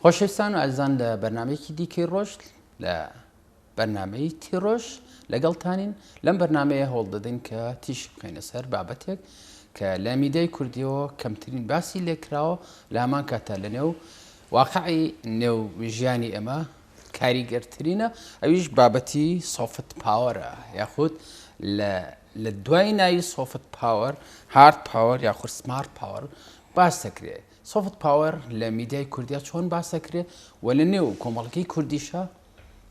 خۆشەویستان و ئازان لە بەرنمەیەکی دیکەی ڕۆژ لە بەرنمەی تیڕۆژ لەگەڵتانین لەم بەرنمەیە هەوڵ دەدەین کە تیش بخینە سەر بابەتێک کە لە میدای کوردیەوە کەمترین باسی لێکراوە لامان کاتە لەنێو واقعی نێو ژیانی ئێمە کاریگەرترینە، ئەویش بابەتی سۆفت پاوەرە یاخود لە دوای ناوی سۆفت پاوەر، هارد پاوەر یاخود سمارت پاوەر باس دەکرێ. سۆفت پاوەر لە میدیای کوردیا چۆن باس دەکرێ و لە نێو کۆمەڵگەی کوردیشا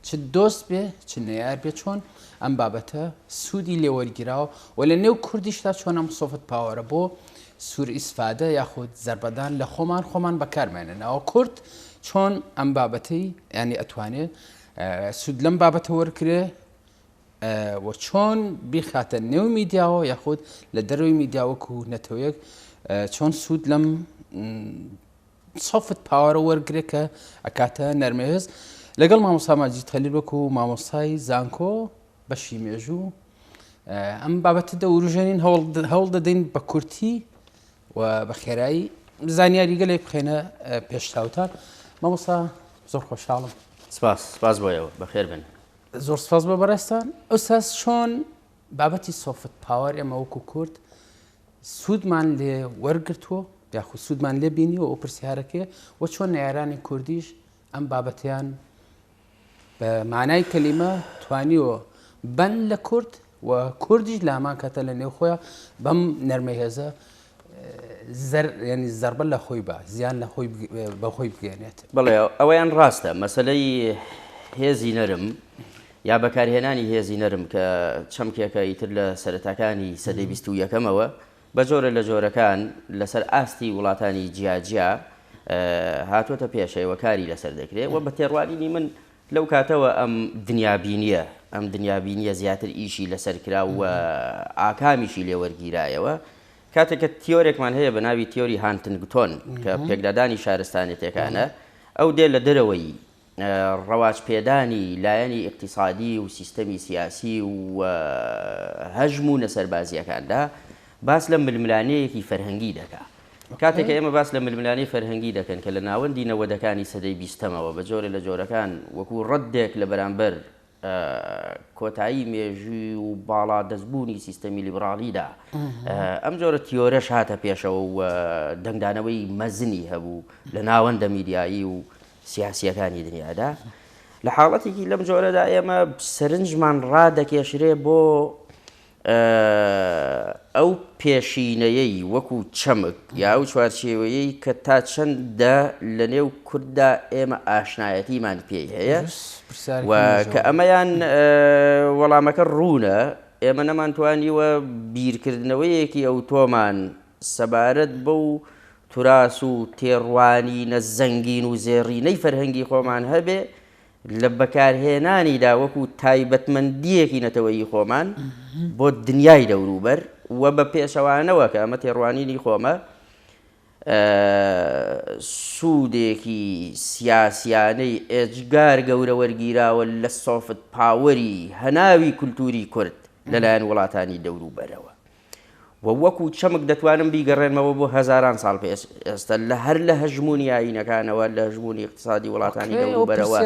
چ دۆست بێ چ نەیار بێ چۆن ئەم بابەتە سوودی لێوەرگیراوە و لە نێو کوردیشدا چۆن ئەم سۆفت پاوەرە بۆ سوور ئیسفادە یاخود زربەدان لە خۆمان خۆمان بەکارمێنە ناوە کورد چۆن ئەم بابەتەی ینی ئەتوانێ سوود لەم بابەتە وەرکرێ و چۆن بیخاتە نێو میدیاوە یاخود لە دەروی میدیاوەکو نەتەوەیەک چۆن سوود لەم سۆفت پاوەرە وەرگرە کە ئەکاتە نەرمەوێز لەگەڵ مامۆستا ماجید خەلیل وەکو مامۆستای زانکۆ بەشی مێژوو ئەم بابەتە دەوروژێنین هەوڵ دەدەین بە کورتی و بە خێرایی زانیاری گەلێ بخێنە پێشتاوتان مامۆستا زۆر خۆشحاڵم سپاس سپاس بۆیەوە بەخێر بن زۆر سپاس بە بەڕێستان ئەوساس چۆن بابەتی سۆفت پاوەر ئێمە وەکو کورد سوودمان لێ وەرگرتووە یاخود سوودمان لێ بینیوە ئەو پرسیارەکەی وە چۆن نەیارانی کوردیش ئەم بابەتیان بە مانای کەلیمە توانیوە بەن لە کورد و کوردیش لامان کەتە لە نێوخۆیان بەم نەرمە هێزە ینی زربە لە خۆی بە زیان لە خۆی بەخۆی بگەێنێت بڵێ ئەوەیان ڕاستە مەسلەی هێزی نەرم یا بەکارهێنانی هێزی نەرم کە چەمکێکە ئیتر لە سەرەتاکانی سەدەی بیست و یەکەمەوە بە جۆرە لە جۆرەکان لەسەر ئاستی وڵاتانی جیاجیا هاتوۆتە پێشەوە کاری لەسەر دەکرێت و بە تێڕوانینی من لەو کاتەوە ئەم دنیابینییە ئەم دنیابینییە زیاتر ئیشی لەسەر کرا و ئاکامیشی لێ وەرگیرایەوە. کاتێک کە تیۆرێکمان هەیە بە ناوی تیۆری هانتنگتۆن کە پێکدادانی شارستانێتێکانە، ئەو دێ لە دەرەوەی ڕەواجپێدانی لایەنی ئیقتیسادی و سیستەمی سیاسی و هەژموونە سەربازییەکاندا باس لە ململانێیەکی فەرهەنگی دەکا. کاتێک کە ئێمە باس لە ململانێی فەرهەنگی دەکەین کە لە ناوەندی نەوەدەکانی سەدەی بیستەمەوە بە جۆرێ لە جۆرەکان وەکوو ڕەدێک لە بەرامبەر کۆتایی مێژووی و باڵا دەستبوونی سیستەمی لیبڕاڵیدا ئەم جۆرە تیۆرەش هاتە پێشەوە و دەنگدانەوەی مەزنی هەبوو لە ناوەندە میدیایی و سیاسیەکانی دنیادا لە حاڵەتێکی لەم جۆرەدا ئێمە سەرنجمان ڕادەکێشرێ بۆ ئەو پێشینەیەی وەکو چەمک یا ئەو چوارچێوەیەی کە تا چەندە لە نێو کورددا ئێمە ئاشنایەتیمان پێی هەیە و کە ئەمەیان وەڵامەکە ڕوونە ئێمە نەمانتوانیوە بیرکردنەوەیەکی ئەو تۆمان سەبارەت بەو تراس و تێڕوانینە زەنگین و زێڕینەی فەرهەنگی خۆمان هەبێ لە بەکارهێنانیدا وەکو تایبەتمەندییەکی نەتەوەیی خۆمان بۆ دنیای دەوروبەر و بە پێچەوانەوە، کە ئەمە تێڕوانینی خۆمە، سوودێکی سیاسییانەی ئێجگار گەورە وەرگیراوە لە سۆفت پاوەری هەناوی کولتووری کورد لەلایەن وڵاتانی دەوروبەرەوە. و وەکو چەمک دەتوانم بیگەڕێنمەوە بۆ هەزاران ساڵ پێش ئێستا لە هەر لە هەژموونی ئایینەکانەوە لە هەژموونی اقتصادی وڵاتانی دەوروبەرەوە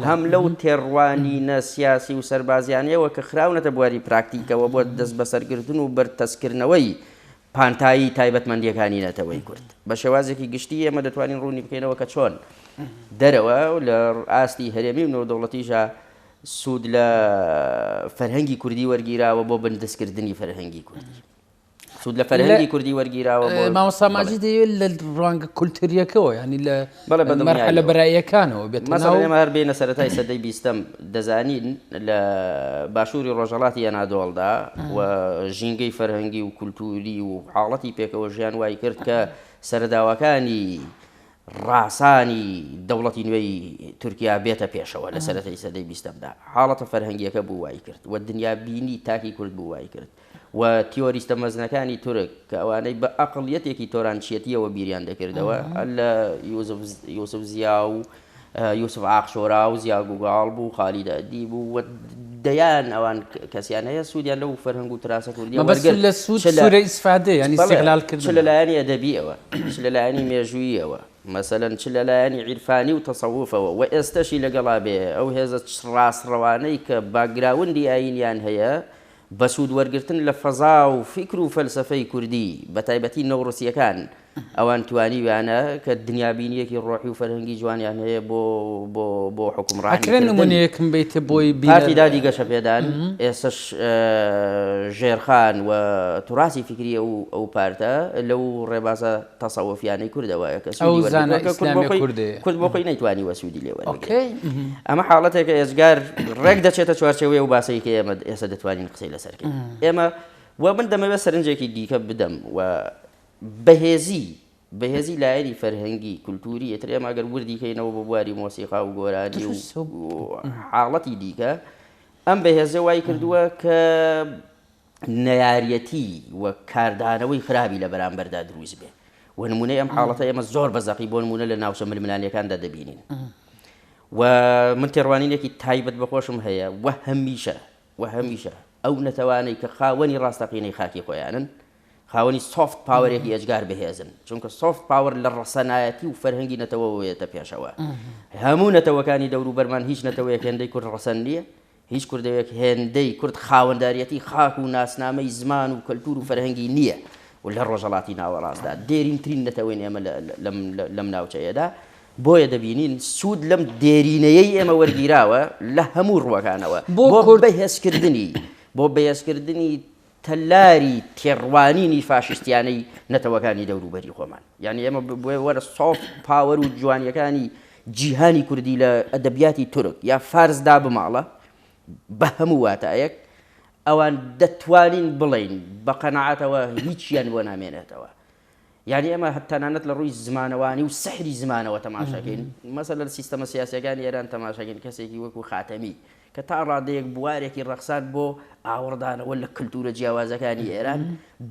هەم لەو تێڕوانینە سیاسی و سەربازیانەیەوە کە خراونەتە بواری پراکتیکەوە بۆ دەستبەسەرگرتن و بەرتەسکردنەوەی پانتایی تایبەتمەندیەکانی نەتەوەی کورد بە شێوازێکی گشتی ئێمە دەتوانین ڕوونی بکەینەوە کە چۆن دەرەوە لە ئاستی هەرێمی و نێودەوڵەتیشە سوود لە فەرهەنگی کوردی وەرگیراوە بۆ بندەستکردنی فەرهەنگی کوردی. سود لە فەرهەنگی کوردی وەرگیراوە ماوەساماجی دەیەوێت لە ڕوانگە کولتوریەکەەوە ینی لە لە برایەکانەوە بێت مەزانێمە هەر بێنە سەرەتای سەدەی بیستم دەزانین لە باشووری ڕۆژەڵاتی یەنادۆڵدا و ژینگەی فەرهەنگی و کولتوری و حاڵەتی پێکەوە ژیان وای کرد کە سەرداواکانی ڕاسانی دەوڵەتی نوێی تورکیا بێتە پێشەوە لە سەرەتای سەدەی بیستەمدا، حاڵەتە فەرهەنگییەکە بوو وای کرد و دنیابینی تاکی کورد بوو وای کرد و تیۆریستە مەزنەکانی تورک کە ئەوانەی بە ئەقڵیەتێکی تۆرانچیەتییەوە بیریان دەکردەوە لە یوسف زیا و یوسف ئاق شۆرا و زیا گوگاڵ بوو خالید ئەدیب و دەیان ئەوان کەسیان هەیە سوودیان لەو فەرهەنگ و تراسە کوردیە وەرگر لە سوود سورە ئیسفادە ینی سیغلال کرد چ لەلایەنی ئەدەبیەوە چ لەلایەنی مێژوویەوە مەسەلەن چ لەلایەنی عیرفانی و تەسەوفەوە و ئێستەشی لەگەڵا بێ ئەو هێزە ڕاستڕەوانەی کە باکگراوندی ئایینیان هەیە بە سوود وەرگرتن لە فەزا و فیکر و فەلسەفەی کوردی بەتایبەتی نەوڕسییەکان ئەوان توانیویانە کە دنیابینیەکی ڕۆحی و فەرهەنگی جوانیان هەیە بۆ بۆ بۆ حوکمڕانی کردن. ئەکرێ نمونەیەکم بەیتە بۆی بینەر. پارتی دادی گەشەپێدان ئێستەش ژێرخان و توراسی فیکری ئەو ئەو پارتە لەو ڕێبازە تەسەوفیانەی کوردە وایە کە سوودی وەرگرتوە. ئەو زانا ئیسلامیە کوردە. کورد بۆ خۆی نەیتوانیوە سوودی لێ وەربگرێ. ئۆکەی. ئەمە حاڵەتێکە ئێجگار ڕێک دەچێتە چوارچێوەی ئەو باسەی کە ئێمە ئێستە دەتوانین قسەی لەسەر کەین. ئێمە و من دەمەوێت سەرنجێکی دیکە بدەم و بەهێزی بەهێزی لایەنی فەرهەنگی، کولتووری، ئیتر ئێمە گەر وردی کەینەوە بۆ بواری مۆسیقا و گۆرانی و حاڵەتی دیکە، ئەم بەهێزە وای کردووە کە نەیارەتی و کاردانەوەی خراپی لە بەرامبەردا دروست بێ و نمونەی ئەم حاڵەتە ئێمە زۆر بە زەقی بۆ نمونە لە ناوچە ململانیەکاندا دەبینین و من تێڕوانینێکی تایبەت بەخۆشم هەیە و هەمیشە و هەمیشە ئەو نەتەوانەی کە خاوەنی ڕاستەقینەی خاکی خۆیانن خاوەنی سۆفت پاوەرێکی ئێجگار بەهێزن، چونکە سۆفت پاوەر لە ڕەسەنایەتی و فەرهەنگی نەتەوەوە یەتە پێشەوە. هەموو نەتەوەکانی دەوروبەرمان هیچ نەتەوەیەک هێندەی کورد ڕەسەن نییە، هیچ کوردەوەیەک هێندەی کورد خاوەنداریەتی خاک و ناسنامەی زمان و کەلتور و فەرهەنگی نییە و لە ڕۆژەڵاتی ناوەڕاستدا دێرینترین نەتەوەین ئێمە لەم ناوچەیەدا، بۆیە دەبینین سود لەم دێرینەیەی ئێمە وەرگیراوە لە هەموو ڕووەکانەوە بۆ بەهێزکردنی بۆ بەهێزکردنی تەلاری تێڕوانینی فاشیستیانەی نەتەوەکانی دەوروبەری خۆمان یانی ئێمە بۆیە وەرە سۆفت پاوەر و جوانیەکانی جیهانی کوردی لە ئەدەبیاتی تورک یا فارس دا بماڵە بە هەموو واتایەک ئەوان دەتوانین بڵێین بە قەناعەتەوە هیچیان بۆ نامێنێتەوە. یانی ئێمە تەنانەت لە ڕووی زمانەوانی و سحری زمانەوە تەماشاکەین، مەسەلەن سیستەمە سیاسییەکانی ئێران تەماشاکەین کەسێکی وەکوو خاتەمی کە تا ڕادەیەک بوارێکی ڕەخساند بۆ ئاوڕدانەوە لە کلتوورە جیاوازەکانی ئێران،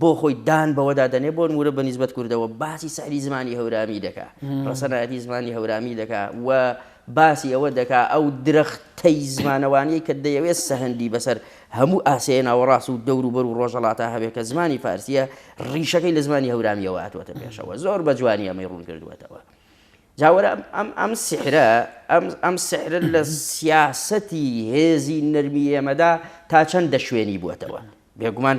بۆ خۆی دان بەوەدا دەنێ بۆ نموونە بە نیسبەت کوردەوە باسی سحری زمانی هەورامی دەکا، ڕەسەنایەتی زمانی هەورامی دەکا و باسی ئەوە دەکا ئەو درەختەی زمانەوانییەی کە دەیەوێ سەهەندی بەسەر هەموو ئاسیای ناوەڕاست و دەوروبەر و ڕۆژهەڵاتا هەبێ کە زمانی فارسییە، ڕیشەکەی لە زمانی هەورامییەوە هاتووەتە پێشەوە، زۆر بە جوانی ئەمەی ڕوون کردووەتەوە. جا وەرە ئەم سیحرە، ئەم سیحرە لە سیاسەتی هێزی نەرمی ئێمەدا تا چەند دەشوێنی بووەتەوە؟ بێگومان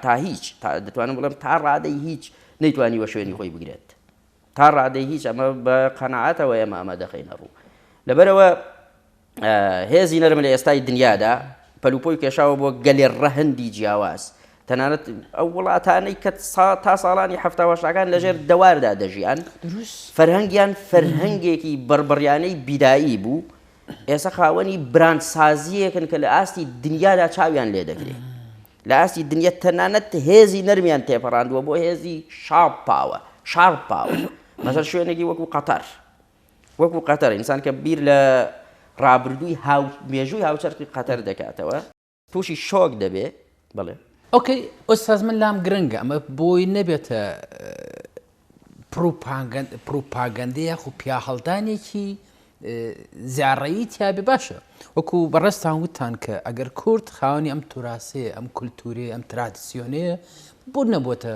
تا هیچ، دەتوانم بڵێم تا ڕادەی هیچ نەیتوانیوە شوێنی خۆی بگرێت. تا ڕادەی هیچ، ئەمە بە قەناعەتەوە ئێمە ئەمە دەخەینە ڕوو. لەبەرئەوە هێزی نەرم لە ئێستای دنیادا پەلوپۆی کێشاوە بۆ گەلێ ڕەهەندی جیاواز تەنانەت ئەو وڵاتانەی کە تا ساڵانی هەفتاوەشتاکان لەژێر دەواردا دەژیان فەرهەنگیان فەرهەنگێکی بڕبڕیانەی بیدایی بوو ئێستا خاوەنی براندسازیەکن کە لە ئاستی دنیادا چاویان لێ دەگرێت لە ئاستی دنیا تەنانەت هێزی نەرمیان تێپەڕاندووە بۆ هێزی شاپ پاوە شار پاوە مەسەر شوێنێکی وەکو قەتەر وەکو قەتەر ئینسان کە بیر لە ڕابردووی هاو مێژووی هاوچەرخی قەتەر دەکاتەوە تووشی شۆک دەبێ بڵێ ئۆکەی ئۆستاز من لام گرنگە ئەمە بۆی نەبێتە پروپاگەندە یاخو پیاهەڵدانێکی زیاڕەیی تیاابێ باشە وەکو بەڕێستان وتان کە ئەگەر کورد خاونی ئەم توراسەیە ئەم کولتورێ ئەم ترادسیۆنەیە بۆ نەبووتە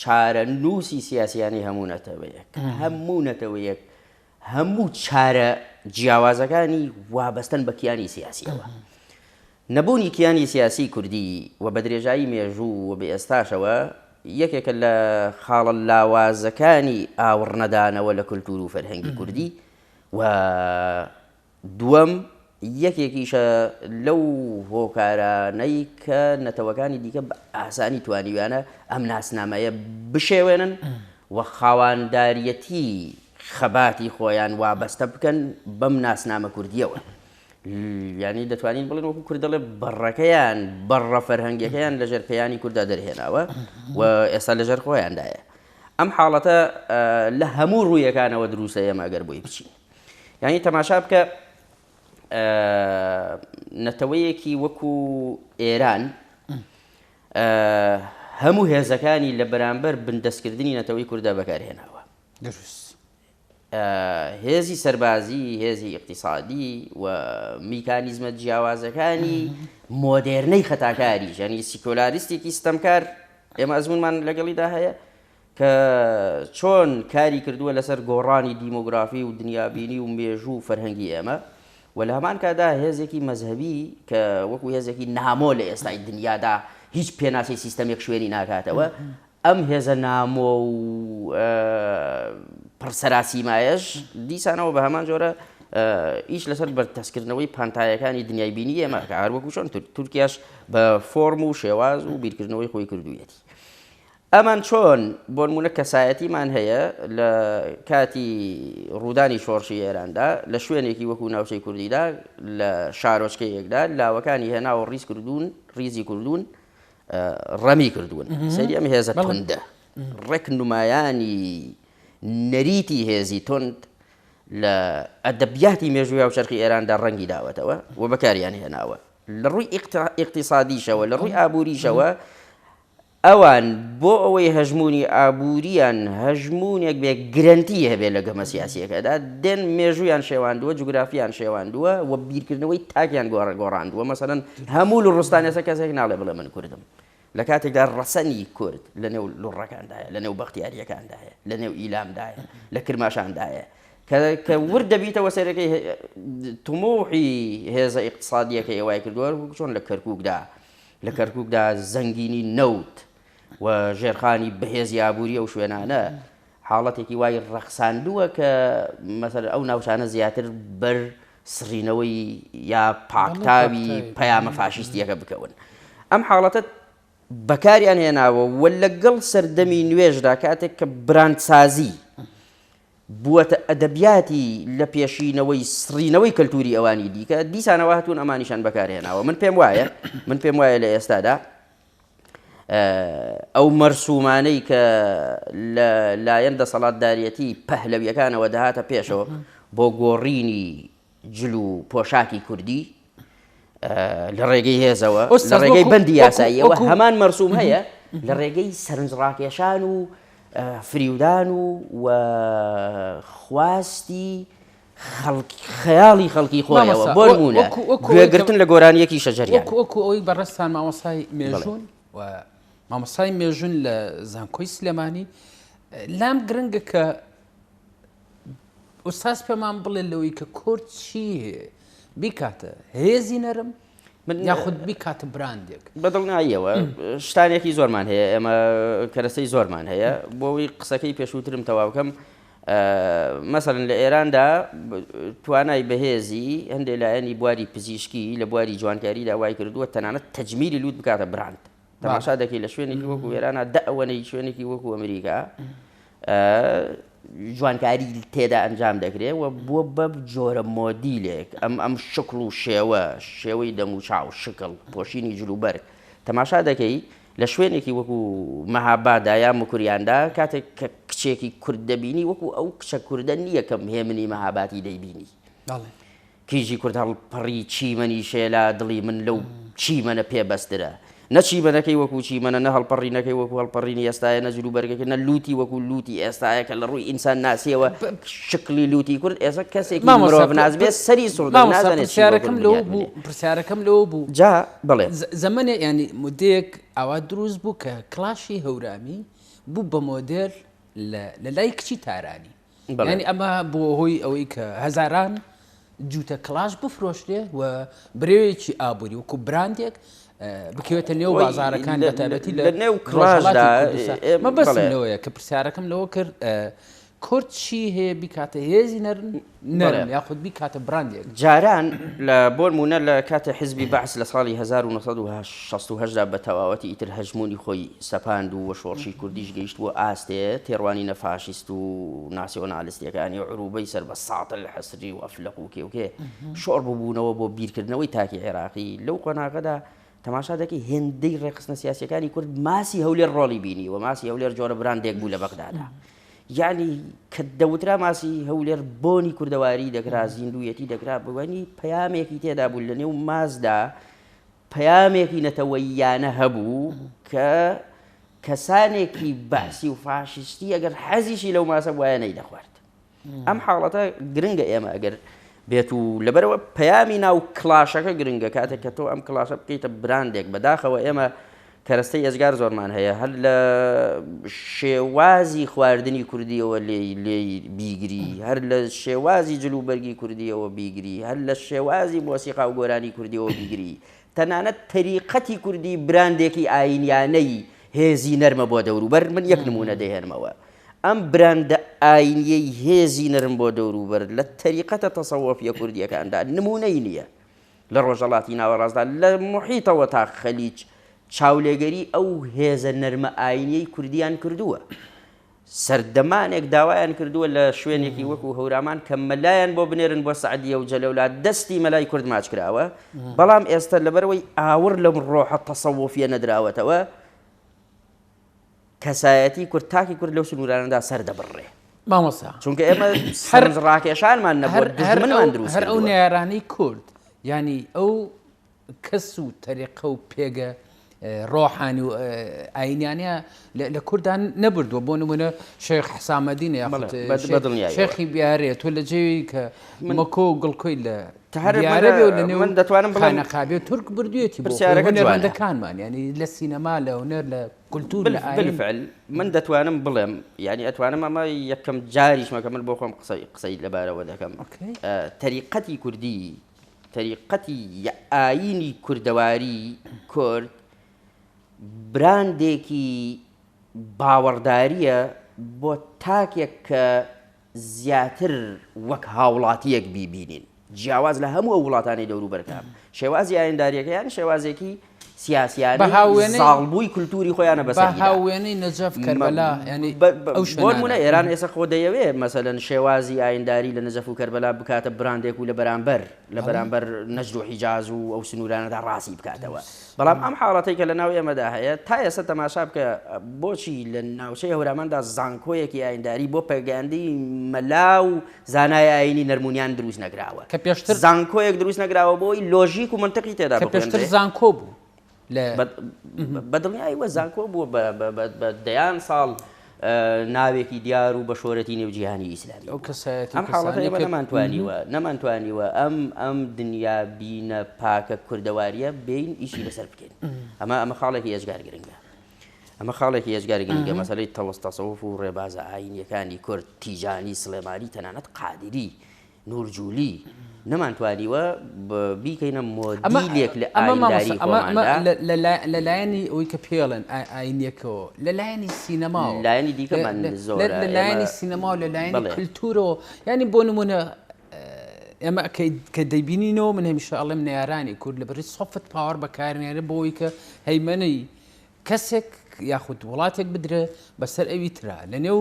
چارەنووسی سیاسییانەی هەموو نەتەوەیەک، هەموو نەتەوەیەک هەموو چارە جیاوازەکانی وابەستەن بە کیانی سیاسییەوە. نەبوونی کیانی سیاسیی کوردی و بە درێژایی مێژوو و بە ئێستاشەوە یەکێکە لە خاڵە لاوازەکانی ئاوڕنەدانەوە لە کولتوور و فەرهەنگی کوردی و، دووەم، یەکێکیشە لەو هۆکارانەی کە نەتەوەکانی دیکە بە ئاسانی توانیویانە ئەم ناسنامەیە بشێوێنن و خاوانداریەتی خەباتی خۆیان وابەستە بکەن بەم ناسنامە کوردیەوە. یانی دەتوانین بڵێن وەکو کورد دەڵێ بەڕەکەیان بەڕە فەرهەنگەکەیان لەژێر پێیانی کووردا دەرهێناوە و ئێستا لەژێر خۆیاندایە ئەم حاڵەتە لە هەموو ڕوویەکانەوە دروسە ئێمە ئەگەر بۆی بچین یانی تەماشا بکە نەتەوەیەکی وەکو ئێران هەموو هێزەکانی لە بەرامبەر بندەستکردنی نەتەوەی کووردا بەکارهێناوە هێزی سەربازی هێزی اقتصادی و میکانیزمە جیاوازەکانی مۆدێرنەی خەتاکاری ژەنی سیکۆلاریستێکی ستەمکار ئێمە ئەزمونمان لەگەڵیدا هەیە کە چۆن کاری کردووە لەسەر گۆڕانی دیمۆگرافی و دنیابینی و مێژوو و فەرهەنگی ئێمە و لە هەمان کاتدا هێزێکی مەزهەبی کە وەکو هێزێکی نامۆ لە ئێستای دنیادا هیچ پێناسەی سیستەمێک شوێنی ناکاتەوە ئەم هێزە نامۆ و پڕ سەراسیمایەش دیسانەوە بە هەمان جۆرە ئیش لەسەر بەرتەسکردنەوەی پانتایەکانی دنیای بینی ئێمە کار وەکوشن تورکیاش بە فۆرم و شێواز و بیرکردنەوەی خۆی کردوویەتی ئەمان چۆن؟ بۆنموونە کەسایەتیمان هەیە لە کاتی ڕوودانی شۆڕشی ئێراندا لە شوێنێکی وەکو ناوچەی کوردیدا لە شارۆچکەیەکدا لاوەکانی هێناوە ڕیز کردوون ڕیزی کردوون ڕەمی کردوون سەری ئەم هێزە تندە ڕێک نمایانی نەریتی هێزی تند لە ئەدەبیاتی مێژووی و چرخی ئێراندا ڕەنگی داوەتەوە و بەکاریان هێناوە لە ڕووی ئیقتصادیشەوە لە ڕووی ئابووریشەوە ئەوان بۆ ئەوەی هەژموونی ئابوورییان هەژموونێک بێ گرەنتی هەبێت لە گەمە سیاسییەکەدا دێن، مێژوویان شێواندووە، جوگرافیان شێواندووە و بیرکردنەوەی تاکیان گۆڕاندووە، مەسەلەن هەموو لوڕستان ئێستا کەسێک ناڵێ بڵێ من کوردم، لە کاتێکدا ڕەسەنی کورد لەنێو لوڕەکاندایە، لەنێو بەختیارییەکاندایە، لەنێو ئیلاندایە، لە کرماشاندایە. کە ورد دەبیتەوە سەیرەکەی تموحی هێزە ئیقتسادییەکەی وای کردووە چۆن لە کەرکووکدا لە کەرکوکدا زەنگینی نەوت و ژێرخانی بەهێزی ئابووری ئەو شوێنانە حاڵەتێکی وای ڕەخساندووە کە مەسەر ئەو ناوچانە زیاتر بەر سڕینەوەی یا پاکتاوی پەیامە فاشیستیەکە بکەون ئەم حاڵەتە بەکاریان هێناوە و لەگەڵ سەردەمی نوێژدا کاتێک کە براندسازی بووەتە ئەدەبیاتی لە پێشینەوەی سڕینەوەی کەلتووری ئەوانی دیکە، دیسانەوە هەتوون ئەمانیشان بەکار هێناوە. من پێم وایە، من پێم وایە لە ئێستادا ئەو مەرسوومانەی کە لە لایەن دەسەڵاتداریەتی پەهلەویەکانەوە دەهاتە پێشەوە بۆ گۆڕینی جل و پۆشاکی کوردی لە ڕێگەی هێزەوە لە ڕێگەی بەندی یاساییەوە هەمان مەرسوم هەیە لە ڕێگەی سەرنجڕاکێشان و فریودان و و خواستی خەیاڵی خەڵکی خۆیەوە بۆ نمونە گوێگرتن لە گۆرانیەکی شەجەری وەکو ئەوی بەڕستان مامۆسای مێژون و مامۆسای مێژون لە زانکۆی سلێمانی لام گرنگە کە ئوستاز پێمان بڵێ لەوەی کە کورد چی بیکاتە هێزی نەرم یاخود بیکاتە براندێک بەدڵناییەوە شتانێکی زۆرمان هەیە ئێمە کەرەسەی زۆرمان هەیە بۆەوەی قسەکەی پێشووترم تەواوکەم مەسەرن لە ئێراندا توانای بەهێزی هەندێک لایەنی بواری پزیشکی لە بواری جوانکاری داوای کردووە تەنانەت تەجمیری لووت بکاتە براند تەماشا دەکەی لە شوێنێکی وەکو ئێرانە دە ئەوەنەی شوێنێکی وەکو ئەمریکا جوانکاری تێدا ئەنجام دەکرێت و بووە بە جۆرە مۆدیلێک ئەم ئەم شکڵ و شێوە شێوەی دەم و چاو شکڵ پۆشینی جلوبەرگ تەماشا دەکەی لە شوێنێکی وەکو مەهابادا یا مکریاندا کاتێک کە کچێکی کورد دەبینی وەکو ئەو کچە کوردە نییە کەم هێمنی مەهاباتی دەیبینی کیژی کورد هەڵپەڕی چیمەنی شێلا دڵی من لەو چیمەنە پێ بەسترە نە چیمەنەکەی وەکوو چیمەنە نە هەڵپەڕینەکەی وەکوو هەڵپەڕینی ئێستایە نە جلوبەرگەکەی نە لووتی وەکوو لووتی ئێستایە کە لە ڕووی ئینسان ناسیەوە شکلی لووتی کورد ئێستا کەسێکی مامۆستا مرۆڤ ناز بێ پرس- سەری سوڕ دەبێ مامۆستا نازانێ چی بۆ پرسیارەکەم کورد لەوە بنیات بوو بنێ پرسیارەکەم لەوە بوو جا بڵێ ز- زەمەنێ ینی مدەیەک ئاوا دروست بوو کە کڵاشی هەورامی بوو بە مۆدێل لە لە لای کچی تارانی یانی ئەمە بووە هۆی ئەوەی کە هەزاران جووتە کلاش بفرۆشرێ و برەوێکی ئابووری وکو براندێک بکەوێتە نێو بازارەکان لە تایبەتی لە نێو کلاژدا ئێمە بەسەرەوەیە کە پرسیارەکەم لەوە کرد کورد چی هەیە بیکاتە هێزی نەرن نەرم یاخود بیکاتە براندێک جاران لە بۆرمونە لە کاتە حزبی بەعس لە ساڵی 1970 شەست و هەشت دا بە تەواوەتی ئیتر هەژموونی خۆی سەپاند و شۆڕشی کوردیش گەیشت بۆ ئاستێ تێڕوانینە فاشیست و ناسیۆنالیستیەکانی عروبەی سەر بە ساتڵ حسری و ئەفلەق و کێوکێ شۆڕ ببوونەوە بۆ بیرکردنەوەی تاکی عێراقی لەو قۆناغەدا تەماشا دەکەی هێندەی ڕێکخستنە سیاسیەکانی کورد ماسی هەولێر ڕۆڵی بینی و ماسی هەولێر جۆرە براندێک بوو لە بەغدادا یعنی کە دەوترا ماسی هەولێر بۆنی کوردەواری دەکرا زیندویەتی دەکرا بوانی پەیامێکی تێدا بوو لە نێو مازدا پەیامێکی نەتەوەییانە هەبوو کە کەسانێکی بەعسی و فاشیستی ئەگەر حەزیشی لەو ماسە وایە نەی دەخوارد ئەم حاڵەتە گرنگە ئێمە ئەگەر بێت و لەبەرەوە پەیامی ناو کلاشەکە گرنگە کاتێک کە تۆ ئەم کلاسە بکەیتە براندێک بەداخەوە ئێمە کەرەستەی ئێجگار زۆرمان هەیە هەر لە شێوازی خواردنی کوردیەوە لێی لێی بیگری هەر لە شێوازی جل و بەرگی کوردیەوە بیگری هەر لە شێوازی مۆسیقا و گۆرانی کوردیەوە بیگری تەنانەت تەریقەتی کوردی براندێکی ئاینیانەی هێزی نەرمە بۆ دەوروبەر من یەک نمونە دەهێنمەوە ئەم براندە ئاینیەی هێزی نەرم بۆ دەوروبەر لە تەریقەتە تەسەوەفیە کوردیەکاندا نمونەی نییە لە ڕۆژهەڵاتی ناوەڕاستدا لە موحیتەوە تا خەلیج چاولێگەری ئەو هێزە نەرمە ئاینیەی کوردیان کردووە. سەردەمانێک داوایان کردووە لە شوێنێکی وەکو هەورامان کە مەلایان بۆ بنێرن بۆ سەعدیە و جەلەولا دەستی مەلای کورد ماچ کراوە بەڵام ئێستا لەبەرئەوەی ئاوڕ لەم ڕۆحە تەسەوفیە نەدراوەتەوە، کەسایەتی کورد تاکی کورد لەو سنوورانەدا سەر دەبڕرێ مامۆسا چونکە ئێمە سەرنج ڕاکێشانمان نەبوو هەر هەر دژمنمان دروست هەر ئەو کردووە. نارانەی کورد ینی ئەو کەس و تەریقە و پێگە ڕۆحانی و ئاینیانە لە- لە کوردان نەبردووە بۆ نمونە شێخ حسامەدینە یاخود بەڵێ، بە- بە دڵنیایەوە. شێخی بیارێت تۆ لە جێوی کە مەکۆ و گڵکۆی لە دیارەبێ و لە نێو خانەقابێ تورک بردوێتی بۆ هونەرمەندەکانمان یانی لە سینەما لە هونەر لە کولتوور لە ئاین من دەتوانم بڵێم یانی ئەتوانم ئەمە یەکەم جاریشمە کە من بۆ خۆم قسەی قسەی لەبارەوە دەکەم تەریقەتی کوردی تەریقەتی ئاینی کوردەواری کورد براندێکی باوەڕدارییە بۆ تاکێک کە زیاتر وەک هاوڵاتییەک بیبینین، جیاواز لە هەموو ئەو وڵاتانەی دەوروبەرتان، شێوازی ئایندارییەکەیان شێوازێکی سیاسیانەی زاڵبووی کولتووری خۆیانە بەسەر ئێران. بە وێنەی نەجەف کەربەلا یانی ئەو شوێنانە. بۆ نموونە ئێران ئێستا خۆ دەیەوێ مەسەلەن شێوازی ئاینداری لە نەجەف و کەربەلا بکاتە براندێک و لە بەرامبەر لە بەرامبەر نەجد و حیجاز و ئەو سنوورانەدا ڕازی بکاتەوە. بەڵام ئەم حاڵەتەی کە لەناو ئێمەدا هەیە، تا ئێستا تەماشا بکە بۆچی لە ناوچەی هەوراماندا زانکۆیەکی ئاینداری بۆ پەیگەندی مەلا و زانای ئایینی نەرمونیان دروست نەکراوە؟ کە پێشتر. زانکۆیەک دروست نەکراوە بۆ ئەوەی لۆژیک و مەنتقی تێدا بخوێنرێ؟ کە پێشتر زانکۆ بوو لە. بە دڵنیایەوە زانکۆ بووە بە دەیان ساڵ ناوێکی دیار و بەشۆرەتی نێو جیهانی ئیسلامی بوو. ئەم حاڵەتە ئێمە نەمانتوانیوە نەمانتوانیوە ئەم ئەم دنیا بینە پاکە کوردەوارییە بێین ئیشی لەسەر بکەین. ئەمە ئەمە خاڵێکی ئێجگار گرنگە. ئەمە خاڵێکی ئێجگار گرنگە مەسەلەی تەوەس تەسەوف و ڕێبازە ئاینیەکانی کورد تیجانی سلێمانی تەنانەت قادری نور جولی، نەمانتوانیوە بیکەینە مۆدیلێک لە ئاینداری خۆماندا. ئەمە لە لایەنی ئەوەی کە پێڵێن ئایینیەکەوە، لە لایەنی سینەما و لایەنی دیکەمان زۆرە، لە لایەنی سینەما و لە لایەنی کلتورەوە، یانی بۆ نمونە ئێمە کە دەیبینینەوە، من هەمیشە ئەڵێم نەیارانی کورد لە بەرەی سۆفت پاوەر بەکارنێرن بۆ ئەوەی کە هەیمەنەی کەسێک یاخود وڵاتێک بدرێ بەسەر ئەوی ترا لەنێو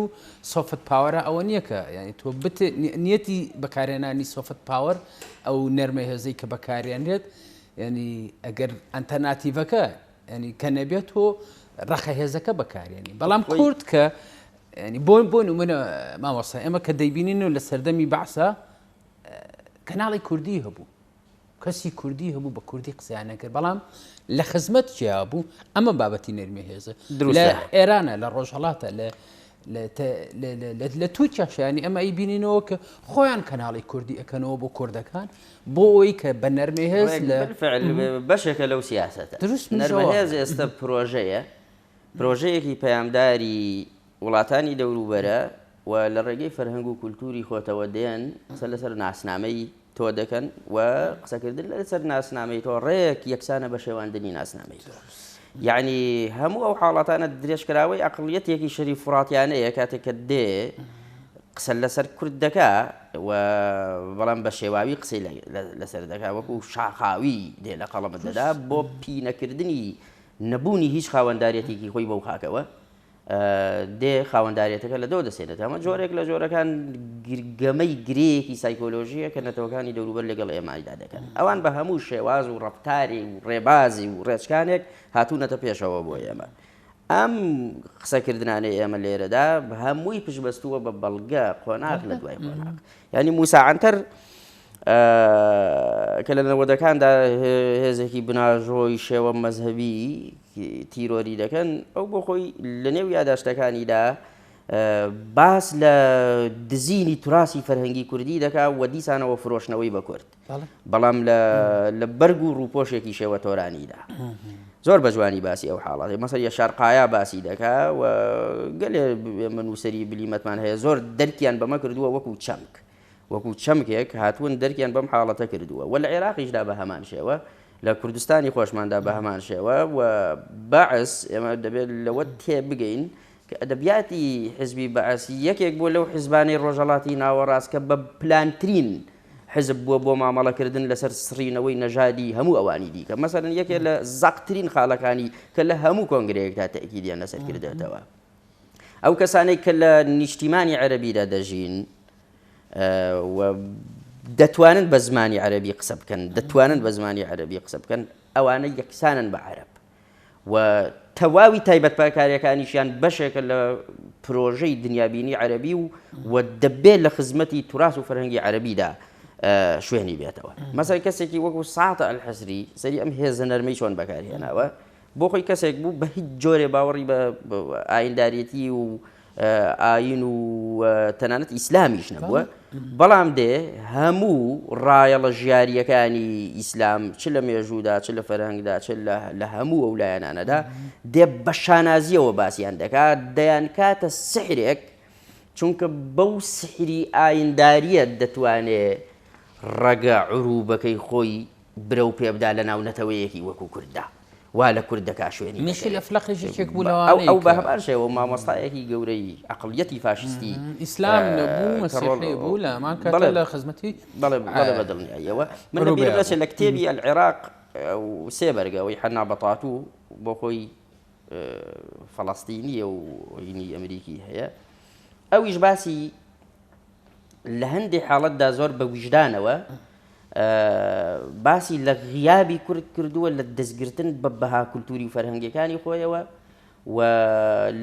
سۆفت پاوەرە ئەوە نییە کە یعنی تۆ بت نیەتی بەکارێنانی سۆفت پاوەر ئەو نەرمە هێزەی کە بەکارێنرێت ینی ئەگەر ئەتەرناتیڤەکە ینی کە نەبێت تۆ ڕەخە هێزەکە بەکارێنی بەڵام کورد کە ینی بۆن بۆ نمونە ماوەسا ئێمە کە دەیبینین و لە سەردەمی بەعسا کەناڵی کوردی هەبوو کەسی کوردی هەبوو بە کوردی قسەیان نەکرد بەڵام لە خزمەت کیا بوو ئەمە بابەتی نەرمی هێزە لە ئێرانە لە ڕۆژهڵاتە لە لە تورکیا شانی ئەمە ئی بینینەوە کە خۆیان کەناڵی کوردی ئەەکەنەوە بۆ کوردەکان بۆ ئەوی کە بە نەرمێ هێز لە بەشێکە لەو سیاست دروست نەرمێز ئێستا پرۆژەیە پرۆژەیەکی پەیامداری وڵاتانی دەوروبەرە و لە ڕێگەی فەرهەنگ و کولتووری خۆتەوە دێن قسە لەسەر ناسنامەی تۆ دەکەن و قسەکردن لەسەر ناسنامەی تۆ ڕێک یەکسانە بە شێواندنی ناسنامەی تۆ. یەعنی هەموو ئەو حاڵاتانە درێژکراوەی ئەقڵیەتێکی شەریف فوڕاتیانەیە کاتێک کە دێ قسە لەسەر کورد دەکا و بەڵام بە شێواوی قسەی لەسەر دەکا وەکو شاخاوی دێ لە قەڵەمت دەدا بۆ پینەکردنی نەبوونی هیچ خاوەنداریەتێکی خۆی بەو خاکەوە دێ خاوەنداریەتەکە لە دەو دەسێنێت ئەمە جۆرێک لە جۆرەکان گەمەی گرێیەکی سایکۆلۆژیە کە نەتەوەکانی دەوروبەر لەگەڵ ئێمایدا دەکەن ئەوان بە هەموو شێواز و ڕفتاری و ڕێبازی و ڕێچکانێک هاتوونەتە پێشەوە بۆ ئێمە ئەم قسەکردانەی ئێمە لێرەدا هەمووی پشبەستووە بە بەڵگە قۆناغ لە دوای قۆناغ ینی موساعاتەر کە لە نەوەدەکاندا هێزێکی بناژۆی شێوە مەزهبی تیرۆری دەکەن ئەو بۆ خۆی لە نێو یاداشتەکانیدا باس لە دزینی تراسی فەرهەنگی کوردی دەکا و دیسانەوە فرۆشنەوەی بە کورد بەڵام لە بەرگ و ڕوپۆشێکی شێوە تۆرانیدا زۆر بە جوانی باسی ئەو حاڵاتی مەسەر یە شارقایا باسی دەکا و گەلێ من وسەری بلیمەتمان هەیە زۆر دەرکیان بەمە کردووە وەکو چەمک وەکو چەمکێک هاتوون دەرکیان بەم حاڵەتە کردووە و لە عێراقیشدا بە هەمان شێوە، لە کوردستانی خۆشماندا بە هەمان شێوە و بەعس، ئێمە دەبێت لەوە تێبگەین کە ئەدەبیاتی حیزبی بەعس یەکێک بووە لەو حیزبانەی ڕۆژهەڵاتی ناوەڕاست کە بە پلانترین حیزب بووە بۆ مامەڵەکردن لەسەر سڕینەوەی نەژادی هەموو ئەوانی دیکە، مەسەلەن یەکێک لە زەقترین خاڵەکانی کە لە هەموو کۆنگرەیەکدا تەئکیدیان لەسەر کردێتەوە. ئەو کەسانەی کە لە نیشتیمانی عەرەبیدا دەژین و دەتوانن بە زمانی عەرەبی قسە بکەن، دەتوانن بە زمانی عەرەبی قسە بکەن، ئەوانە یەکسانن بە عەرەب و تەواوی تایبەتپکاریەکانیشیان بەشێکە لە پرۆژەی دنیابینی عەرەبی و و دەبێت لە خزمەتی توراس و فەرهەنگی عەرەبیدا شوێنی بێتەوە مەسەر کەسێکی وەکو ساعتە ئەلحەسری سەری ئەم هێزە نەرمەی چۆن بەکارهێناوە بۆ خۆی کەسێک بوو بە هیچ جۆرێ باوەڕی بە ئاینداریەتی و ئاین و تەنانەت ئیسلامیش نەبووە بەڵام دێ هەموو ڕایەڵە ژیاریەکانی ئیسلام چ لە مێژوودا چ لە فەرهنگدا چ لە هەموو ئەو لایەنانەدا دێ بە شانازیەوە باسییان دەکات دەیان کاتە سحرێک چونکە بەو سحری ئاینداریەت دەتوانێت ڕەگە عروبەکەی خۆی برەو پێبدا لە ناو نەتەوەیەکی وەکو کورددا وا لە کورد دەکا شوێنی بەسەری میشیل ئەفلەقیش یەکێک بوو لەوانەی کە ئەو بە هەمان شێوە مامۆستایەکی گەورەی ئەقڵیەتی فاشیستی ئیسلام نەبوو مەسیحی بوو لە هەمان کاتدا لە خزمەتی بەڵێ بەڵێ بە دڵنیاییەوە من لە بیرم نەچێت لە کتێبی العراق سێ بەرگە ئەوەی حەنا بەتاتو بۆ خۆی فەڵەستینییە و هینی ئەمریکی هەیە ئەویش باسی لە هەندێک حاڵەتدا زۆر بە ویژدانەوە باسی لە غیابی کورد کردووە لە دەستگرتن بە بەها کولتوری و فەرهەنگەکانی خۆیەوە و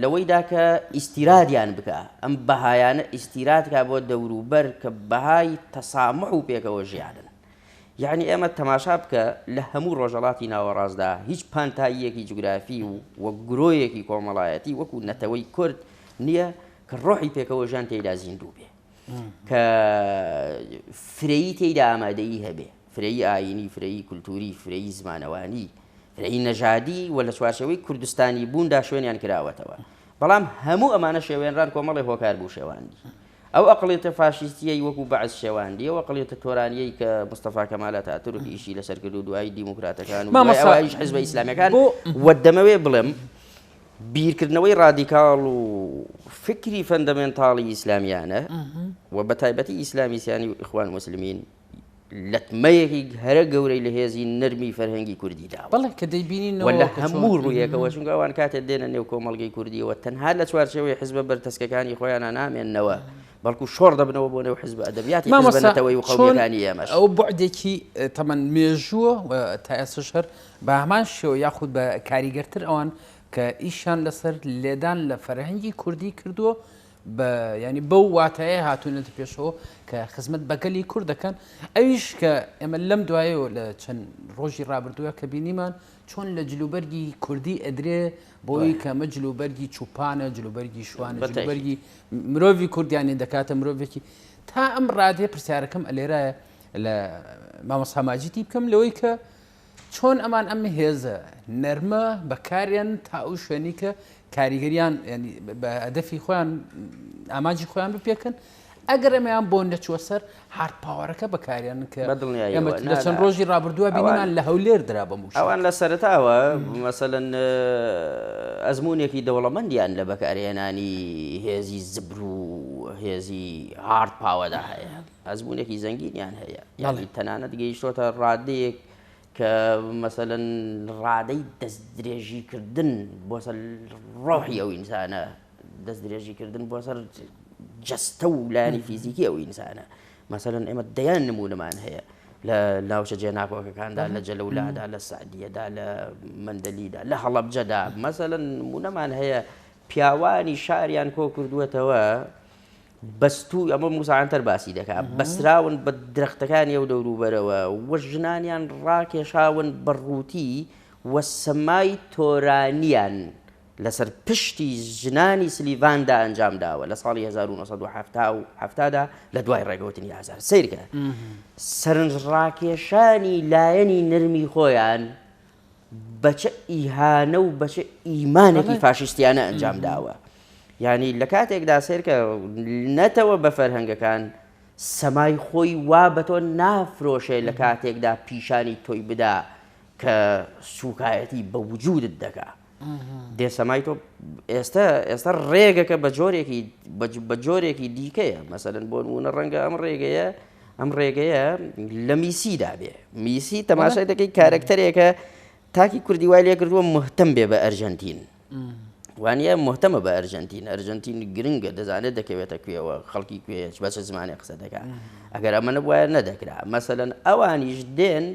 لەوەیدا کە ئیسیرادیان بکە ئەم بەهایانە ئیسیراتکە بۆ دەوروبەر کە بەهای تەسامح و پێکەوە ژیانن یعنی ئێمە تەماشا بکە لە هەموو ڕۆژەڵاتی ناوەڕاستدا هیچ پانتاییەکی جوگرافی و وە گرۆیەکی کۆمەڵایەتی وەکو نەتەوەی کورد نییە کە ڕۆحی پێکەوە ژان تێدا زیندوو بێ کە فرەیی تێیدا ئامادەیی هەبێ، فرەیی ئایینی، فرەیی کولتووری، فرەیی زمانەوانی، فرەیی نەژادی و لە چوارچێوەی کوردستانیبووندا شوێنیان کراوەتەوە. بەڵام هەموو ئەمانە شێوێنران کۆمەڵێ هۆکار بوو شێواندی. ئەو ئەقڵیەتە فاشیستییەی وەکوو بەعس شێواندی، ئەو ئەقڵیەتە تۆرانییەی کە مستەفا کەمال ئەتاتورک ئیشی لەسەر کرد و دوایی دیموکراتەکان و دوای ئەوایش حیزبە ئیسلامییەکان و دەمەوێ بڵێم، بیرکردنەوەی ڕادیکاڵ و فکری فەندەمێنتاڵی ئیسلامیانە و بە تایبەتی ئیسلامی سیانی و ئیخوان موسلمین لەتمەیەکی هەرە گەورەی لە هێزی نەرمی فەرهەنگی کوردی داوە بەڵێ کە دەیبینین وە لە هەموو ڕوویەکەوە چونکە ئەوان کاتێ دێنە نێو کۆمەڵگەی کوردیەوە تەنها لە چوارچەوەی حزبە بەرتەسکەکانی خۆیانە نامێنەوە بەڵکو شۆڕ دەبنەوە بۆ نێو حزب ئەدەبیاتی مامەسەتەوەی و خۆیەکانی ئێمەش ئەو بەعدێکی تەمەەن مێژووە تا ئێسش هەر بەهەمان شێوە یاخود بە کاریگەرتر ئەوان کە ئیشیان لەسەر لێدان لە فەرهەنگی کوردی کردووە بە ینی بەو واتایە هاتوونەتە پێشەوە کە خزمەت بەگەلی کورد دەکەن ئەویش کە ئێمە لەم دوایەوە لە چەند ڕۆژی ڕابردووە کە بینیمان چۆن لە جلوبەرگی کوردی ئەدرێ بۆی کەمە جلوبەرگی چوپانە جلوبەرگی شوانە جلوبەرگی مرۆڤی کوردیانی دەکاتە مرۆڤێکی تا ئەم ڕادێ پرسیارەکەم ئەلێرایە لە مامەساماجیتی بکەم لەوەی کە چۆن ئەمان ئەم هێزە نەرمە بەکاریان تا ئەو شوێنی کە کاریگەریان بە هەدەفی خۆیان ئاماجی خۆیان بپێکن ئەگەر ئەمەیان بۆ نەچوە سەر هارد پاوەەکە بەکاریان کە ئەمە لە چەند ڕۆژی ڕابردووە بینیمان لە هەولێر درا بە موش ئەوان لە سەرتاوە مەسەن ئەزمونێکی دەوڵەمەندیان لە بەکارهێنانی هێزی زبر و هێزی هارد پاوەدا هەیە. ئەزموونێکی زەنگینیان هەیە یاخود تەنانەت گەیشتۆتە ڕادەیەک کە مەسەلەن ڕادەی دەستدرێژیکردن بۆ سەر ڕۆحی ئەو ئینسانە دەستدرێژیکردن بۆ سەر جەستە و لایانی فیزیکی ئەو ئینسانە مەسەلەن ئێمە دەیان نمونمان هەیە لە ناوچە جێ ناکۆکەکاندا لە جەلەولادا لە سعدیەدا لە مندەلیدا لە هەڵبجەدا مەسەلەن نمونەمان هەیە پیاوانی شاریان کۆ کردووەتەوە، بەستوو، ئەمە موسا عەنتەر باسی دەکا، بەستراون بە درەختەکانی ئەو دەوروبەرەوە و ژنانیان ڕاکێشاون بە ڕووتی و سەمای تۆرانیان لەسەر پشتی ژنانی سلیڤاندا ئەنجام داوە لە ساڵی هەزار و نۆ سەد و حەفتا و حەفتا دا لە دوای ڕێگەوتنی ئازار. سەیرکە سەرنجڕاکێشانی لایەنی نەرمی خۆیان بە چ ئیهانە و بە چ ئیمانێکی فاشیستیانە ئەنجام داوە یعنی لە کاتێکدا سێرکە نەتەوە بە فەرهەنگەکان سەمای خۆی وا بە تۆ نافرۆشێ لە کاتێکدا پیشانی تۆی بدا کە سوکایەتی بە وجودت دەکات دێ سەمای تۆ ئێستا ئێستا ڕێگەکە بە جۆرێکی بە جۆرێکی دیکەیە مەسەرن بۆ نمونە ڕەنگە ئەم ڕێگەیە ئەم ڕێگەیە لە میسیدا بێ میسی تەماشای دەکەی کارەکتەرێکە تاکی کوردی وای لێکردووە مهتم بێ بە ئەرژەنتین. وانە مهتەمە بە ئەرژەنتین ئەرژەنتین گرنگە دەزانێت دەکەوێتە کوێەوە خەڵکی کوێ بەچە زمانێک قسە دەکات ئەگەر ئەمە نەبواە نەدەکرا مەسەن ئەوانیش دێن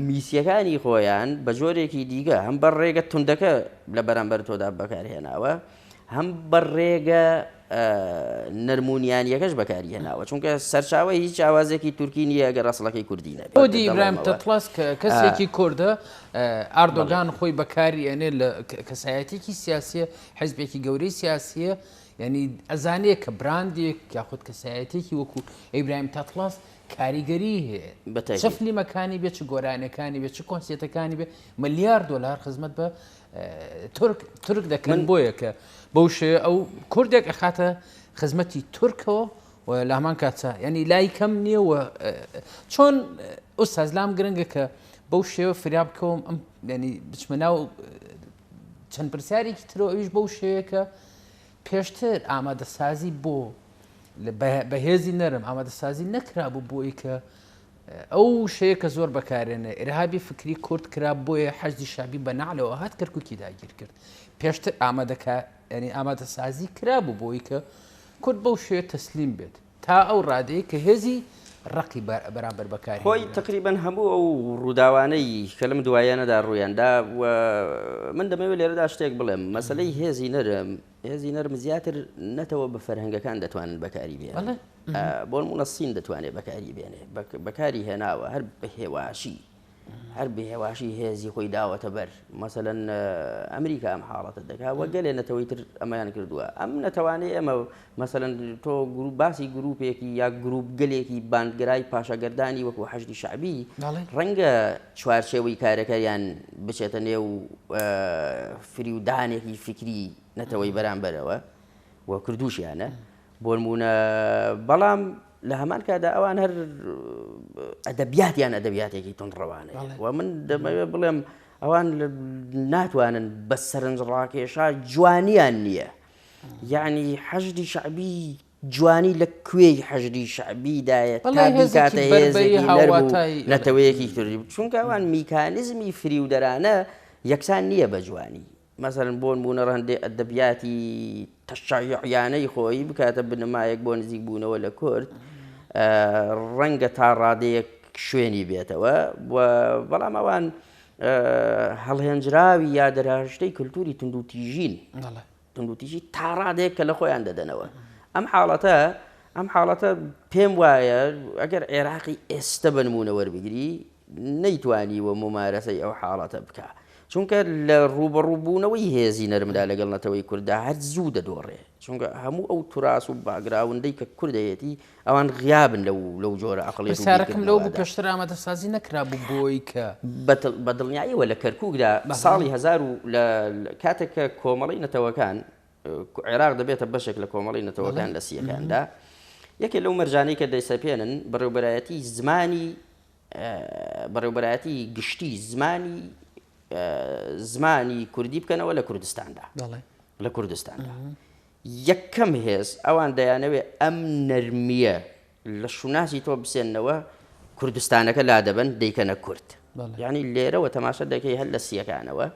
میسیەکانی خۆیان بە جۆرێکی دیکە هەم بە ڕێگە توندەکە لە بەرامبەر تۆدا بەکارهێناوە هەم بە ڕێگە نەرمونیانیەکەش بەکاری هێناوە چونکە سەرچاوە هیچ چاوازێکی تورکی نییە گە ڕسڵەکەی کوردی نەبودی ئیبراهیم تەتڵاس کە کەسێکی کوردە ئاردۆگان خۆی بەکاری ئەێ لە کەسایەتێکی سیاسیە حزبێکی گەورەی سیاسیە ینی ئەزانەیە کە براندێک یاخود کەسایەتێکی وەکو ئەیبراهیم تەتڵاس کاریگەریی هەیە. چ فلیمەکانی بێ، چ گۆرانیەکانی بێ، چ کۆنسێتەکانی بێ، ملیار دۆلار خزمەت بە تورک تورک دەکەن بۆیە کە بەو شێوەیە ئەو کوردێک ئەخاتە خزمەتی تورکەوە و لامان کاتە ینی لای کەم نییە و چۆن ئوستاز لام گرنگە کە بەو شێوە فریا بکەوم ئەم ینی بچمە ناو چەند پرسیارێکی ترەوە ئەویش بەو شێوەیە کە پێشتر ئامادەسازی بۆ بە هێزی نەرم ئامادەسازی نەکرابوو بۆ ئەی کە ئەو شەیە کە زۆر بەکارێنە ئێرهابی فکری کورد کرا بۆیە حەزی شابی بە نعلەوە هات کەرککی داگیر کرد پێشتر ئامادەکە ینی ئامادەسازی کرابوو بۆی کە کورد بەو شێ تەسلیم بێت تا ئەو ڕادەیەی کە هێزی ڕەقی بەرامبەر بە کار هێنرا. خۆی تەقریبەن هەموو ئەو ڕووداوانەی کە لەم دواییانەدا ڕوویان دا و من دەمەوێت لێرەدا شتێک بڵێم، مەسەلەی هێزی نەرم، هێزی نەرم زیاتر نەتەوە بە فەرهەنگەکان دەتوانن بەکاری بێنن. بۆ نموونە سین دەتوانێت بەکاری بێنێت، بەکاری هێناوە هەر بە هێواشی. هەر بەهێواشی هێزی خۆی داوەتە بەر مەسەلەن ئەمریکا ئەم حاڵەتە دەکات وە گەلێ نەتەوەی تر ئەمەیان کردووە ئەم نەتەوانەی ئەمە مەسەلەن تۆ گروپ باسی گروپێکی یا گروپ گەلێکی باندگرای پاشەگەردانی وەکو حەشتی شعبی ڕەنگە چوارچێوەی کارەکەیان بچێتە نێو فریودانێکی فکری نەتەوەی بەرامبەرەوە و کردوشیانە بۆنمونە بەڵام لە هەمان کاتدا ئەوان هەر ئەدەبیاتیان ئەدەبیاتێکی تونڕەوانەیە و من دەمەوێت بڵێم ئەوان ناتوانن بە سەرنجڕاکێشا جوانیان نییە یعنی حەشدی شعبی جوانی لە کوێی حەژری شعبیدایە نەتەوەیەکی کردی چونکە ئەوان میکانزمی فریودەرانە یەکسان نییە بە جوانی مەسەلەن بۆ نموونە ڕەهەندێ ئەدەبیاتی تەشەیوعیانەی خۆی بکاتە بنەمایەک بۆ نزیک بوونەوە لە کورد ڕەنگە تا ڕادەیەک شوێنی بێتەوە و بەڵام ئەوان هەڵهێنجراوی یا دەرهشتەی کللتوری تونندوتیژین تونندوتیژی تا ڕادێک کە لە خۆیان دەدەنەوە ئەم حاڵەتە ئەم حاڵەتە پێم وایە ئەگەر عێراقی ئێستا بنمونە وەربگری نەیتوانیوە مومارەسەی ئەو حاڵەتە بکا، چونکە لە ڕووبەڕوو بوونەوەی هێزی نەرمدا لەگەڵ نەتەوەی کورددا هەر زوو دەدۆڕێ، چونکە هەموو ئەو توراس و باکگراوندەی کە کورد هەیەتی ئەوان غیابن لەو لەو جۆرە عەقڵیەت و بیرکردنەوەدا. پرسیارەکەم لەوە بوو پێشتر ئامادەسازی نەکرابوو بۆی کە. بە دڵنیایەوە لە کەرکوکدا ساڵی هەزار و لە کاتێک کە کۆمەڵەی نەتەوەکان عێراق دەبێتە بەشێک لە کۆمەڵەی نەتەوەکان لە سییەکاندا یەکێ لەو مەرجانەی کە دەیسەپێنن بەڕێوبەرایەتی زمانی بەڕێوبەرایەتی گشتی زمانی زمانی کوردی بکەنەوە لە کوردستاندا لە کوردستاندا یەکەم هێز ئەوان دەیانەوێت ئەم نەرمیە لە شوناسی تۆ بسێنەوە کوردستانەکە لا دەبن دەیکەنە کورد ینی لێرەوە تەماشە دەکەی هەر لە سیەکانەوە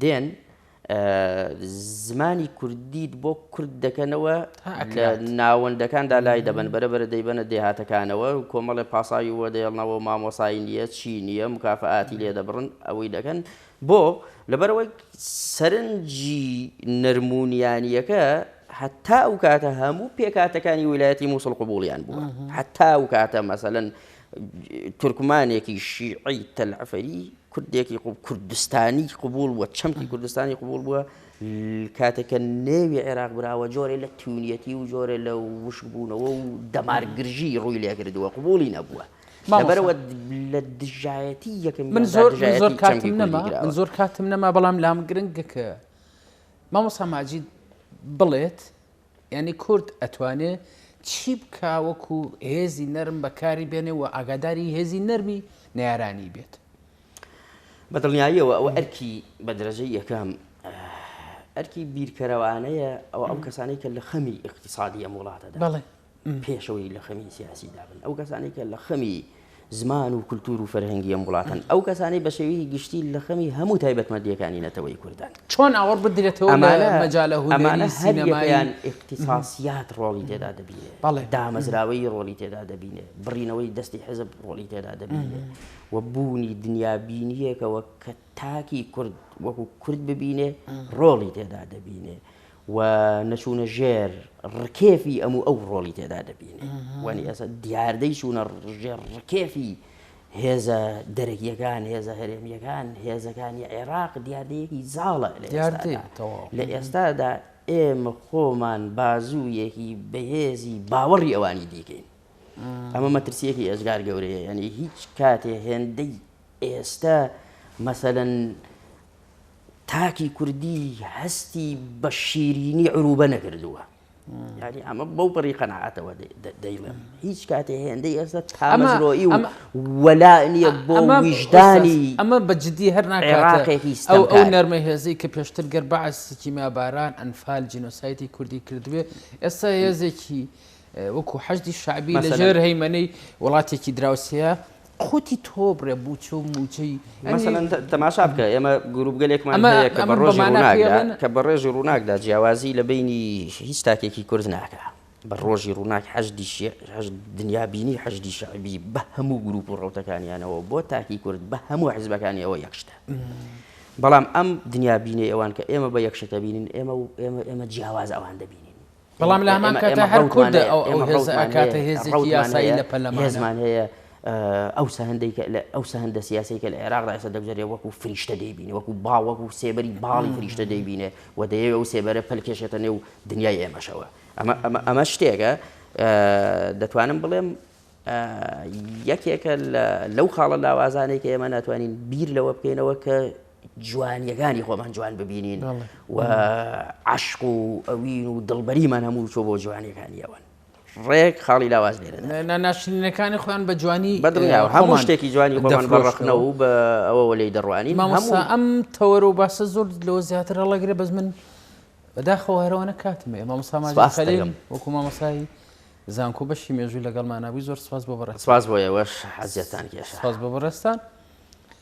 دێن زمانی کوردیت بۆ کورد دەکەنەوە ناوەندەکاندا لای دەبن بەرە بەرە دەیبەنە دێهاتەکانەوە و کۆمەڵێ پاساوی وە دەێڵنەوە مامۆسایی نییە چی نییە مکافاتی لێ دەبڕن ئەوەی دەکەن بۆ لەبەرەوەی سەرنجی نەرمونیانیەکە هەتا ئەو کاتە هەموو پێکاتەکانی ویلایەتی مووسڵ قوبولیان بووە هەتا ئەو کاتە مەسەن تورکمانێکی شیعەی تەلعەفەری کوردێکی کوردستانی قوبول بووە چەمکی کوردستانی قوبول بووە کاتێکە نێوی عێراق براوە جۆرە لە تونیەتی و جۆرە لە وشبوونەوە و دەمارگرژی ڕووی لێکردووە قوبولی نەبووە بەرەوە لە دژایەتی یەکەم من زۆر زۆر کاتیم نەما من زۆر کاتم نەما بەڵام لام گرنگەکە مامۆسا ماجید بڵێت یانی کورد ئەتوانێ چی بکا وەکو هێزی نەرم بەکاری بێنێ و ئاگاداری هێزی نەرمی نەیارانی بێت؟ بە دڵنیاییەوە ئەوە ئەرکی بە دەرەجەی یەکەم ئەرکی بیرکەرەوانەیە ئەوە ئەو کەسانەی کە لە خەمی ئیقتیسادی ئەم وڵاتەدا پێشەوەی لە خەمی سیاسی دابن ئەو کەسانی کە لە خەمی زمان و کللتور و فەرهەنگی ئەم وڵاتن ئەو کەسانی بە شێوی گشتی لە خەمی هەموو تایبەتمەندیەکانی نەتەوەی کوردان چۆن ئاوەڕ بدرێتەوە ئەمانە مەجالە ئەمانە سینەمایان اختصاسیات ڕۆڵی تێدا دەبینێ بەڵێ دامەزراوەی ڕۆڵی تێدا دەبینێ بڕینەوەی دەستی حزب ڕۆڵی تێدا دەبینێ و بوونی دنیابینیەکەوە کە تاکی کورد وەکو کورد ببینێ ڕۆڵی تێدا دەبینێ و نەچوونە ژێر ڕکێفی ئەم و ئەو ڕۆڵی تێدا دەبینێ وانی ئەسە دیاردەی چوونە ژێر ڕکێفی هێزە دەرەکیەکان هێزە هەرێمیەکان هێزەکانی عێراق دیاردەیەکی زاڵە لە ئێستادا ئێمە خۆمان بازوویەکی بەهێزی باوەڕی ئەوانی دیکەین ئەمە مەترسیەکی ئێزگار گەورەیە یعنی هیچ کاتێ هێندەی ئێستە مەسەلەن تاکی کوردی هەستی بە شیرینی عروبە نەکردووە یاری ئەمە بەو بڕی قەنەعاتەوە دەیڵێم هیچ کاتێ هێندەی ئێستا تامەزرۆی و وەلا نییە بۆ ویژدانی ئەمە بە جددی هەر ناقێکی ئەو ئەو نەرمە هێزەی کە پێشتر گەر بەعسیکیما باران ئەنفال جینۆسایتی کوردی کردوێ ئێستا هێزێکی وەکو حەشدی شەعبی لە ژێر هەیمەنەی وڵاتێکی دراوسێیە قوتی تۆ بڕێ بووچە و موچەی تەماشا بکە ئێمە گروپگەلێکمان هەیە کە بە ڕۆژی ڕووناکدا کە بە ڕێژی ڕووناکدا جیاوازی لە بینی هیچ تاکێکی کورد ناکە بە ڕۆژی ڕووناک حەشدی دنیا بینی حەشدی شەعبی بە هەموو گروپ و ڕوتەکانیانەوە بۆ تاکی کورد بە هەموو حزبەکانیەوە یەکشتە بەڵام ئەم دنیا بینێ ئەوان کە ئێمە بە یەکشتە بینین ئێمە و ئێمە ئێمە جیاواز ئەوان دەبینین بەڵام لە هەمان کاتدا هەر کوردە ئەو ئەو هێزە ئەکاتە هێزێکی یاسایی لە پەرلەمان. هێزمان هەیە ئەو سەهندەی کە لە ئەو سەهندە سیاسەی کە لە عێراقدا ئێستا دەگوزارێ وەکو فریشتە دەیبینێ وەکو باوەک و سێبەری باڵی فریشتە دەیبینێ و دەیەوێ ئەو سێبەرە پەلکێشێتە نێو دنیای ئێمەشەوە ئەمە ئەمە ئەمە شتێکە دەتوانم بڵێم یەکێکە لەو خاڵە لاوازانێک کە ئێمە ناتوانین بیر لەوە بکەینەوە کە جوانیەکانی خۆمان جوان ببینین و عشق و ئەوین و دڵبەریمان هەموو چۆ بۆ جوانیەکانی ئەوان ڕێک خاڵی لاواز لێرە ناشرینەکانی خۆیان بە جوانی بەدڵنیا هەموو شتێکی جوانی بۆمان بەڕخنە و بە ئەوەوە لی دەڕوانی مامۆسا ئەم تەوەرە و باسە زۆر لەوە زیاتر هەڵەگرێ بەس من بەداخەوە هەرەوە نەکاتمێ مامۆسامان وەکو مامۆسایی زانکۆ بەشی مێژوو لەگەڵماننابووی زۆر سپاس بۆ بەڕێ سپاس بۆ ئێوەش حەزیەتان کێش سپاس بۆ بەڕێستان